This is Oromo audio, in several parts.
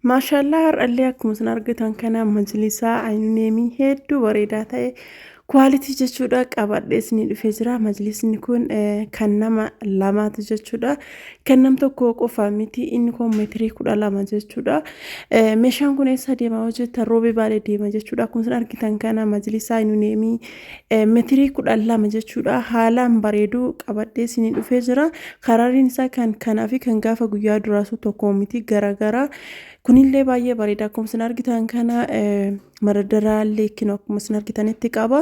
Maashaallaa har'allee akkuma isin argitan kana majlisaa aynuneemii hedduu bareedaa ta'e kwaalitii jechuudha qabadhee isinii dhufee jira majlisni kun eh, kan nama lamaati jechuudha kan nam tokkoo qofaa miti inni kun meetirii kudha lama jechuudha Eh, meeshaan kun eessa deema hojjetta roobee baalee deema jechuudha akkuma isin argitan kana majlisaa aynuneemii Metirii kudhan lama jechuudha haalaan bareeduu qabadhee isinii dhufee jira karariin isaa kan kanaa fi kan gaafa guyyaa duraasuu tokko miti garagaraa kunillee baay'ee bareeda akkuma isin argitan kana maradaraallee kinu akkuma isin argitanitti qaba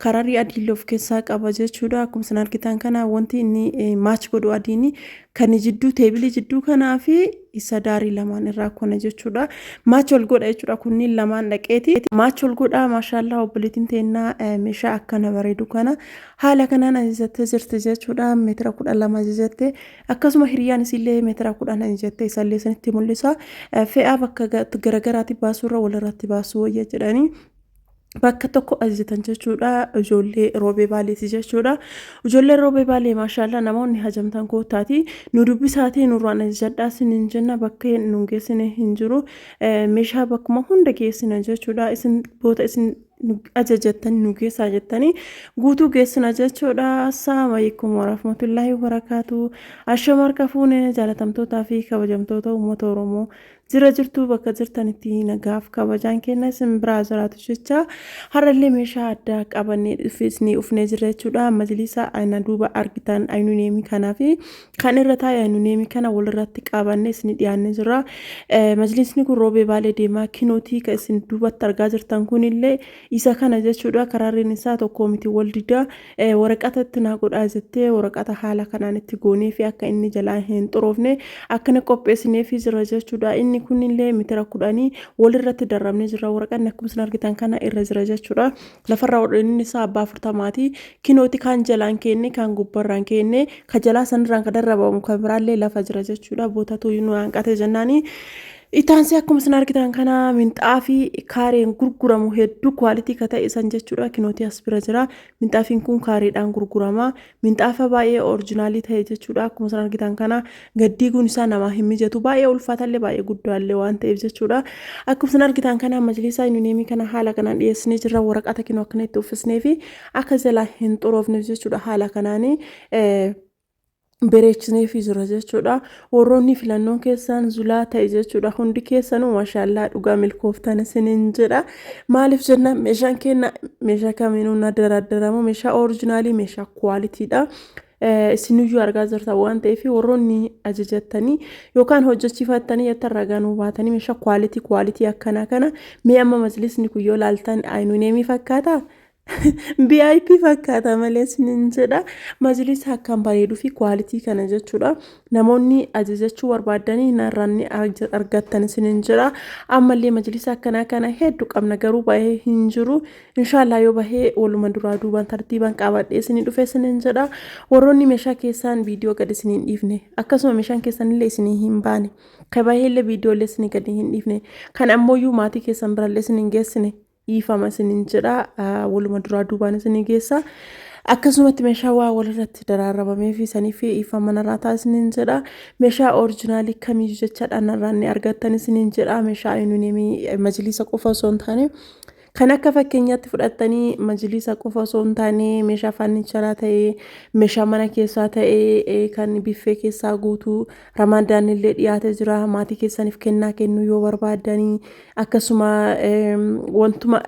kararii adiillee of keessaa qaba jechuudha akkuma isin argitan kana wanti inni maach godhu adiini kan jidduu teebilii jidduu kanaa fi isa daarii lamaan irraa kona jechuudha. Maachi ol godha jechuudha kunniin lamaan dhaqeeti. Maachi ol godha maashaallaa obboleettiin teennaa meeshaa akkana bareedu kana haala kanaan ajajattee jirti jechuudha. Meetira kudha lama ajajatte akkasuma hiriyaan isiillee meetira kudhan ajajatte isallee isinitti mul'isa. Fe'aa bakka garagaraatti baasuurra walirratti baasuu wayya jedhanii. bakka tokko ajjetan jechuudha ijoollee roobee baaleeti jechuudha ijoollee roobee baalee maashaallah namoonni hajamtan kootaati nu dubbisaatii nurraan ajjadhaa sin hin jenna bakkee nun geessine hin jiru meeshaa bakkuma hunda geessina jechuudha isin boota isin ajajattan nu geessaa jettanii guutuu geessina jechuudha assalaamu alaikum warahmatullaahi wabarakaatu ashamarka fuune jaalatamtootaa fi kabajamtoota uummata oromoo Jira jirtuu bakka jirtanitti nagaaf kabajaan keenya isin biraa jiraatu jecha har'allee meeshaa addaa qabannee dhufeesnee ufnee jirra jechuudha. Majlisa ana duuba argitan aynuneemii kanaa fi kan irra taa'e aynuneemii kana walirratti qabannee isin dhiyaannee jirra. Majlisni kun roobee baalee deemaa kinootii kan isin duubatti argaa jirtan kunillee isa kana jechuudha. Karaarreen isaa tokkoo miti wal didaa. Waraqata itti naa godhaa jettee waraqata haala kanaan itti goonee fi akka inni jalaa hin xuroofne akkana qopheessinee fi jira jechuudha. Inni kunillee mitira kudhanii walirratti darrabnee jira. Waraqanni akkuma isin argitan kana irra jira jechuudha. Lafarraa hodhaniin isaa abbaa afurtamaati. Kinooti kaan jalaan keenne kaan gubbarraan keenne ka jalaa sanirraan ka darrabamu ka biraallee lafa jira jechuudha. Bootatu nu hanqate jennaani. Itaansee akkuma isin argitan kana minxaafii kaareen gurguramu hedduu kwaalitii ka ta'e san jechuudha kinootii as bira jira minxaafiin kun kaareedhaan gurgurama minxaafa baay'ee orijinaalii ta'e jechuudha akkuma isin argitan kana gaddiiguun isaa namaa hin mijatu baay'ee ulfaatallee baay'ee guddaallee waan ta'eef jechuudha akkuma isin argitan kana majlisaa yuuniyeemii kana haala kanaan dhiyeessinee jirra waraqata kinoo akkana itti uffisnee fi akka jalaa hin xuroofneef jechuudha haala kanaanii bereechneefii jira jechuudha warroonni filannoon keessaan zulaa ta'e jechuudha hundi keessanuu mashaallaa dhugaa milkooftan isinin jedha maaliif jenna meeshaan keenya meeshaa kamiinuu na daraddaramu meeshaa orijinaalii meeshaa kuwaalitiidha isiniyyuu argaa jirta waan ta'eef warroonni ajajattanii yookaan hojjechiifattanii yattan ragaa nuu baatanii meeshaa kuwaalitii kuwaalitii akkanaa kana mee amma majlisni kun yoo laaltan aynuneemii fakkaata BIP fakkaata malee isiniin jedha. Majlisa akkaan bareeduu fi kwaalitii kana jechuudha. Namoonni ajajachuu barbaadanii narraan ni arg- argattan isiniin jedha. Ammallee majlisa akkanaa kana hedduu qabna garuu bahee hin jiru. Inshaallah yoo bahee waluma duraa duubaan tartiibaan qabadhee isinii dhufe isiniin jedha. Warroonni meeshaa keessaan viidiyoo gad isiniin dhiifne akkasuma meeshaan keessanillee isinii hin baane. Ka baheellee viidiyoolee isinii gad hin dhiifne. Kan ammooyyuu maatii keessan birallee isiniin geessine. dhiifama isinin jedha waluma duraa duubaan isinii geessa akkasumatti meeshaa waa walirratti daraarabamee fi sanii fi dhiifama narraa ta'a isinin jedha meeshaa orijinaalii kamiyyuu jechaadha narraa ni argattan isinin jedha meeshaa ayuunimii majliisa qofa osoo hin taane kan akka fakkeenyaatti fudhattanii majliisa qofa osoo hin taane meeshaa faannicharaa ta'ee meeshaa mana keessaa ta'ee kan biffee keessaa guutuu Ramaadaanillee dhiyaate jira. Maatii keessaniif kennaa kennuu yoo barbaadanii akkasuma wantuma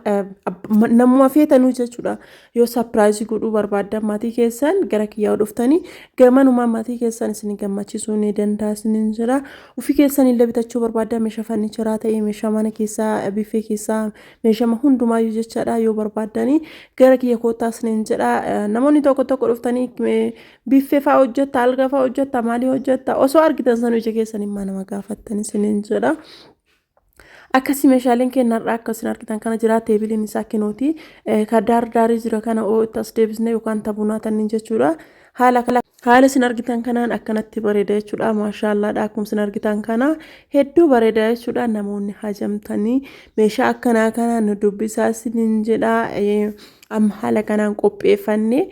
namuma feetanuu jechuudha. Yoo sapiraayizii godhuu barbaaddan maatii keessan gara kiyyaa dhuftanii gamanuma maatii keessan isin gammachiisuu ni danda'a isiniin jira. Ofii keessanillee bitachuu barbaaddan meeshaa farnicheraa ta'ee meeshaa mana keessaa biffee keessaa meeshama hundumaayyuu jechaadha yoo barbaadanii gara kiyya koottaa isiniin jedha. Namoonni tokko tokko dhuftanii Biffee fa'aa hojjetta, alga fa'aa hojjetta, maalii hojjetta. Osoo argitan sanuu ija keessan immaa nama gaafattan isiniin jedha. Akkasii meeshaaleen keenya har'aa akka isin argitan kana jira teebiliin isaa kinooti. Ka daar daarii jira kana oo itti as deebisne yookaan tabunaa tanniin jechuudha. Haala kala haala isin argitan kanaan akkanatti bareeda jechuudha. Maashaallaadha akkuma isin argitan kana hedduu bareeda jechuudha. Namoonni hajamtanii meeshaa akkanaa kana nu dubbisaa isiniin jedha. Amma haala kanaan qopheeffannee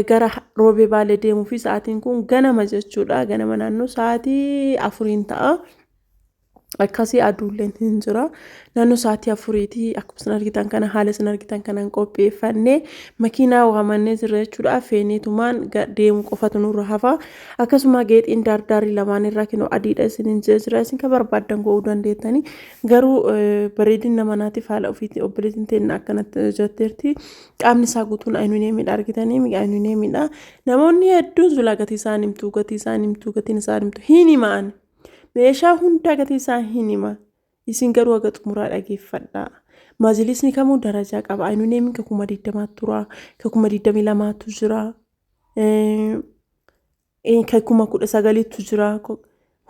gara Roobee Baalee deemuu fi sa'aatiin kun ganama jechuudha. Ganama naannoo sa'aatii afuriin ta'a. Akkasii aduulleen hin jira. Naannoo sa'aatii afuriitii akkuma isin argitan kana haala isin argitan kanaan qopheeffannee makiinaa waamannee jirra jechuudha. Feeneetumaan deemu qofatu nurra hafa. Akkasuma geexiin daardaarri lamaan irraa kinoo adiidha isin hin jira. Isin kan barbaaddan go'uu dandeettanii. Garuu bareedina manaatiif haala ofiitti obboleettiin teenna akkanatti hojjetteerti. Qaamni isaa guutuun ayinuniyeemiidha argitanii miga ayinuniyeemiidha. Namoonni hedduun zulaa gatii isaa himtu gatii isaa himtu gatiin isaa himtu hin himaan. Meeshaa hundaa gatii isaa hin hima. Isin garuu haga xumuraa dhageeffadha. Maajiliisni kamuu darajaa qaba. Ayinuniyeemiin ka kuma digdamaatu tura ka kuma digdamii lamaatu jira. Ee, kan kuma kudha sagaliitu jira ko-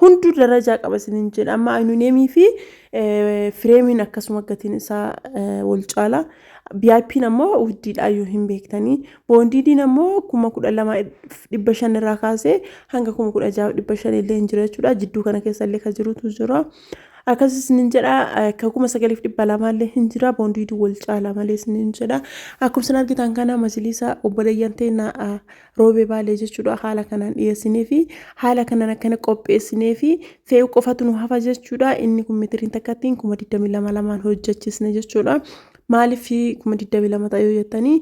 hunduu darajaa qaba isinin jedha amma aynuneemii fi eh, fireemiin akkasuma gatiin isaa eh, wal caala VIPn ammoo wuddiidhaa yoo hin beektanii boondiidiin ammoo kuma kudha lama dhibba shan irraa kaasee hanga kuma kudha jaha dhibba shan illee hin jira jechuudha jidduu kana keessa illee kan jirutu jira akkas isinin jedha eh, kan kuma sagaliif dhibba lamaa illee hin jira boondiidii wal caala malee isinin jedha akkuma isin argitan kana majliisa obboleeyyan teennaa Roobee Baalee jechuudha haala kanaan dhiyeessinee fi haala kanaan akkana qopheessinee fi fe'uu qofatu nu hafa jechuudha. Inni kun meetiriin takkattiin kuma 22 lamaan hojjechiisne jechuudha. Maaliif kuma 22 ta'e yoo jettanii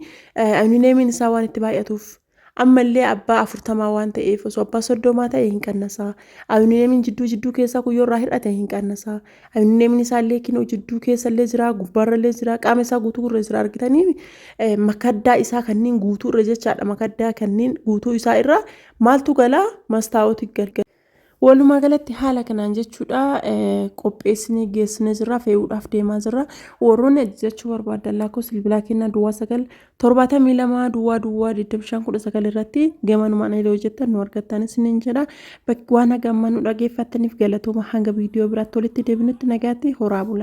alumineemiin isaa waan itti baay'atuuf ammallee abbaa afurtamaa waan ta'eef osoo abbaa soddomaa ta'e hin qannasaa. Alumineemiin jidduu jidduu keessaa kun yoo irraa hir'ate hin qannasaa. Neemni isaallee kinoo jidduu keessallee jira, gubbaarrallee jira, qaama isaa guutuu irra jira argitanii eh, makaddaa isaa kanneen guutuu irra jechaadha makaddaa kanneen guutuu isaa irra maaltu galaa mastaawoti galgala. Walumaa galatti haala kanaan jechuudha eh, qopheessinee geessinee jirra fe'uudhaaf deemaa jirra warroonni ajajachuu barbaadan lakkoofsa bilbilaa kennaa duwwaa sagal torbaatamii lama duwwaa duwwaa digdamii shan kudha sagal irratti gamanumaan illee hojjettan nu argattan isiniin jedha bakki waan haga amma nu dhageeffattaniif galatooma hanga viidiyoo biraatti walitti deebinutti nagaatti horaa bula.